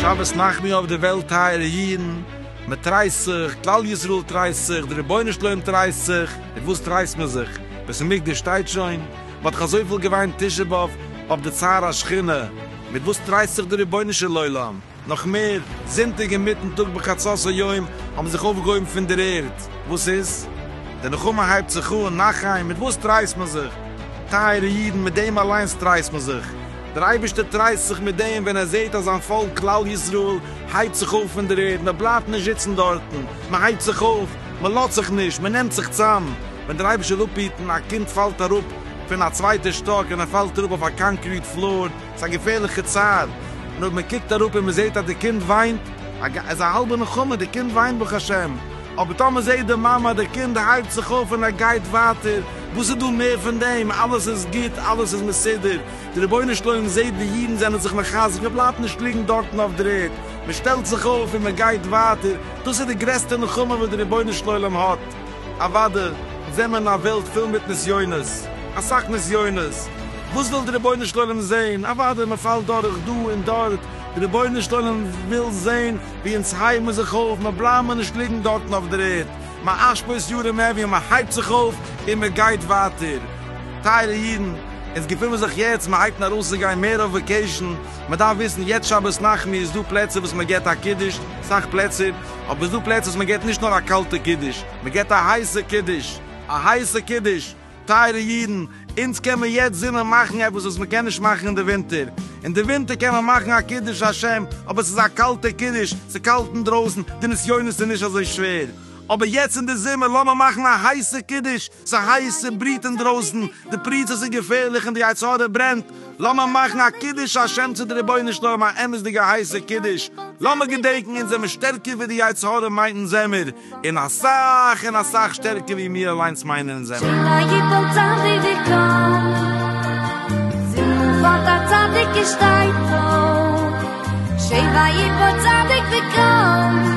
שבת נחמו אויף די וועלט טייערע אידן, מען טרייסט זיך, כלל ישראל טרייסט זיך, דער רבונו של עולם טרייסט זיך, מיט וואס טרייסט מען זיך? בית המקדש שטייט שוין, מען האט דאך אזויפיל געוויינט תשעה באב אויף די צער השכינה, מיט וואס טרייסט זיך דער רבונו של עולם? נאך מער, זונטאג אינמיטן טאג בחצות היום האבן זיך אויפגעהויבן פון דער ערד, וואס איז? די נחמה הייבט זיך אן, נחי, מיט וואס טרייסט מען זיך? טייערע אידן, מיט דעם אליינס טרייסט מען זיך. דער אייבערשטער טרייסט זיך מיט דעם ווען ער זעט אז זיין פאלק כלל ישראל הייבט זיך אויף פון דער ערד, מען בלייבט נישט זיצן דארטן, מען הייבט זיך אויף, מען לאזט זיך נישט, מען נעמט זיך צאם. ווען דער אייבערשטער וויל אפהיטן, א קינד פאלט אראפ פון א צווייטער שטאק און ער פאלט אראפ אויף א קאנקריט פלאר, ס'איז א געפערליכע צער, און אויב מ'קוקט אראפ און מ'זעט אז די קינד וויינט, איז א האלבע נחמה, די קינד וויינט ברוך השם, אבער טאמער זעט די מאמע אז די קינד הייבט זיך אויף און ער גייט ווייטער, וואס איז דא מער פון דעם, אלעס איז גוט, אלעס איז מסודר, די רבונו של עולם זעט ווי אידן זענען זיך מחזק, מ'בלייבט נישט ליגן דארטן אויף דער ערד, מ'שטעלט זיך אויף און מ'גייט ווייטער, דאס איז די גרעסטע נחמה וואס די רבונו של עולם האט. אוואדע זעמער אין א וועלט פול מיט נסיונות, אסאך נסיונות, וואס וויל די רבונו של עולם זעהן, אוואדע מען פאלט דורך דא און דארט, די רבונו של עולם וויל זעהן ווי אונז הייבן זיך אויף, מען בלייבן מיר נישט ליגן דארטן אויף דער ערד, מען אשפוז יארעם עווין, מען הייבט זיך אויף און מען גייט ווייטער, טייערע אידן, אונז געפונען זיך יעצט, מען הייבט אן ארויסצוגיין מער אויף וועקעישן, מען דארף וויסן יעצט שבת נחמו איז דא פלעצער וואס מען געבט א קידוש, סאך פלעצער. אבער ס'דא פלעצער וואס מ'געט נישט נאר א קאלטע קידוש, מ'געט א הייסע קידוש! א הייסע קידוש! טייערע אידן, אונז קען מען יעצט זומער מאכן עפעס וואס מ'קען נישט מאכן אין די ווינטער. אין די ווינטער קען מען מאכן א קידוש השם, אבער ס'איז א קאלטע קידוש, ס'איז קאלט אינדרויסן, די נסיונות איז נישט אזוי שווער. אבער יעצט אין די זומער לאמיר מאכן א הייסע קידוש! ס'איז הייס, ס'בריעט אינדרויסן, די פריצות איז געפערליך און די יצר הרע ברענט, לאמיר מאכן א קידוש השם צו די רבונו של עולם א אמת'דיגע הייסע קידוש, לאמיר געדענקן אונז זעמיר שטערקער ווי די יצר הרע מיינט אונז זעמיר, און אסאך און אסאך שטערקער ווי מיר אליינס מיינען אונז זעמיר. שלא יפול צדיק וקם, זינט פארט א צדיק און שטייט אויף, שלא יפול צדיק וקם.